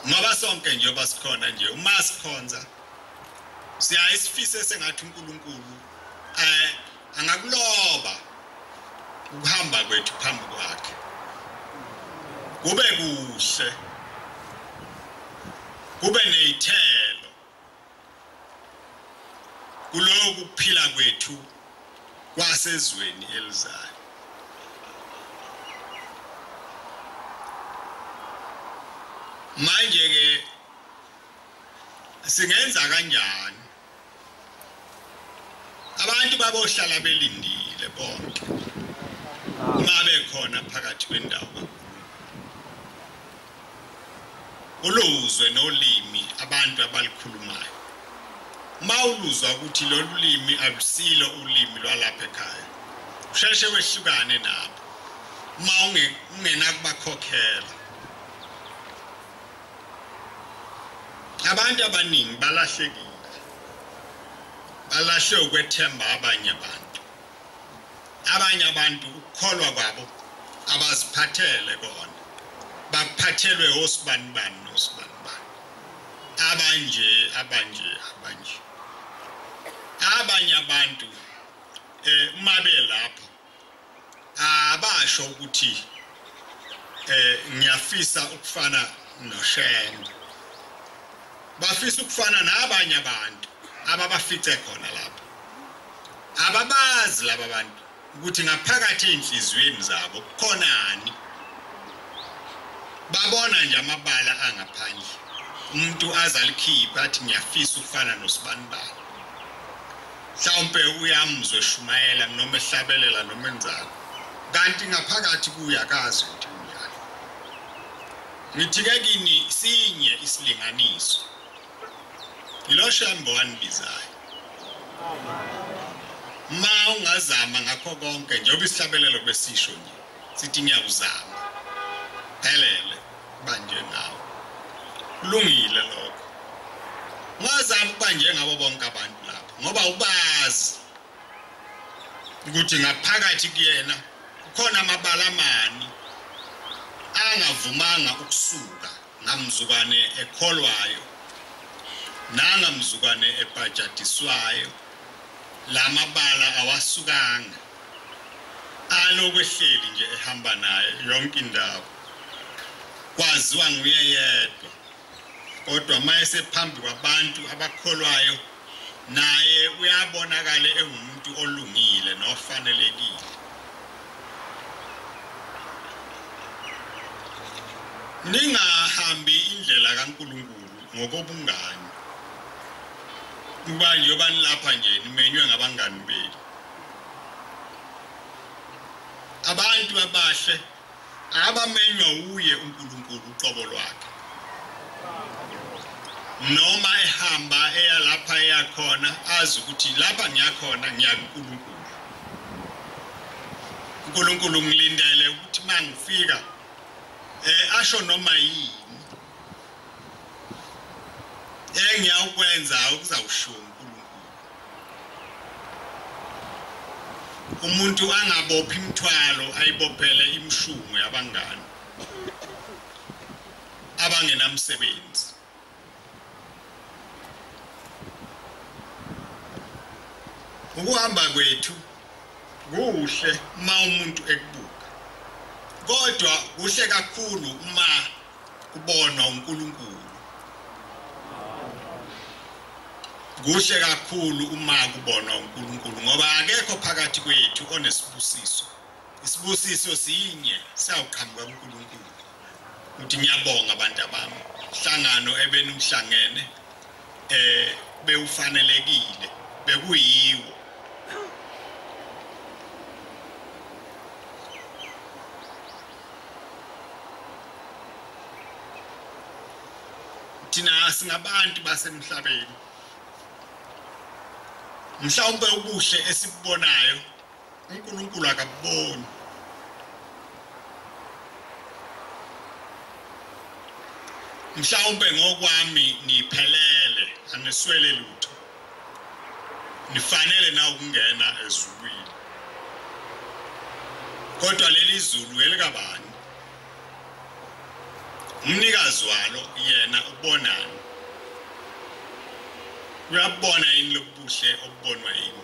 ngoba sonke njengoba sikhona nje uma sikhonza siyaye sifise sengathi uNkulunkulu eh angakuloba ukuhamba kwethu phambi kwakhe kube kuhle kube nezithelo kulowo kuphila kwethu kwasezweni elizayo manje ke singenza kanjani abantu babohlala belindile bonke ungabe khona phakathi kwendawo uluzwe nolimi abantu abalukhulumayo uma uluzwa ukuthi lolu limi alusilo ulimi lwalapha ekhaya usheshe wehlukane nabo uma ungenakubakhokhela abantu abaningi balahlekile balahle ukwethemba abanye abantu abanye abantu ukukholwa kwabo abaziphathele kona baphathelwe osibani bani nosibani bani abanje abanje abanje abanye abantu eh uma belapho abasho ukuthi eh ngiyafisa ukufana noshembe bafisa ukufana nabanye abantu ababafice khona lapho Ababazi laba bantu ukuthi ngaphakathi ezinhliziyweni zabo kukhonani. Babona nje amabala angaphandle. Umuntu azalikhipha athi ngiyafisa ukufana nosibanibani. Mhlawumbe uyamuzwe shumayela noma ehlabelela noma enzalo. Kanti ngaphakathi kuyakazi ukuthi ngithi ke kini sinye isilinganiso Ngiloshambo wanibizayo. Ma ungazama ngakho konke njengoba isihlabelelo besisho nje. Sithi ngiyakuzama. Phelele banje nawe. Kulungile lokho. Ngazama ukuba njengabo bonke abantu lapha ngoba ubazi ukuthi ngaphakathi kuyena kukhona amabala amani angavumanga ukusuka Ngamzukwane ekholwayo nanga mzukwane ebhajadiswayo lamabala awasukanga alokwehleli nje ehamba naye yonke indawo kwaziwa nguye yedwa kodwa mayesephambi kwabantu abakholwayo naye uyabonakala engumuntu olungile nofanelekile ningahambi indlela kaNkulunkulu ngokobungani kuba njengoba nilapha nje nimenywe ngabangani benu abantu abahle abamenywa wuye uNkulunkulu uqobo lwakhe noma ehamba eya lapha eyakhona azi ukuthi lapha ngiyakhona ngiya kuNkulunkulu uNkulunkulu ngilindele ukuthi mangifika eh asho noma yini engiyawukwenza ukuzawusho uNkulunkulu umuntu angabophi imithwalo ayibophele imshungu yabangani abangenamsebenzi ukuhamba kwethu kuhle uma umuntu ekubuka kodwa kuhle kakhulu uma kubonwa uNkulunkulu kuhle kakhulu uma kubonwa uNkulunkulu ngoba akekho phakathi kwethu onesibusiso isibusiso sinye siyawuqhamuka kuNkulunkulu uthi ngiyabonga abantu abami hlangano ebenuhlangene eh bewufanelekile bekuyiwo thina singabantu basemhlabeni mhlawumbe ubuhle esibubonayo uNkulunkulu akabuboni mhlawumbe ngokwami niphelele aniswele lutho nifanele na ukungena ezulwini kodwa leli zulu elikabani umnikazi walo yena ubonani uyabona yini lobuhle obubonwa yini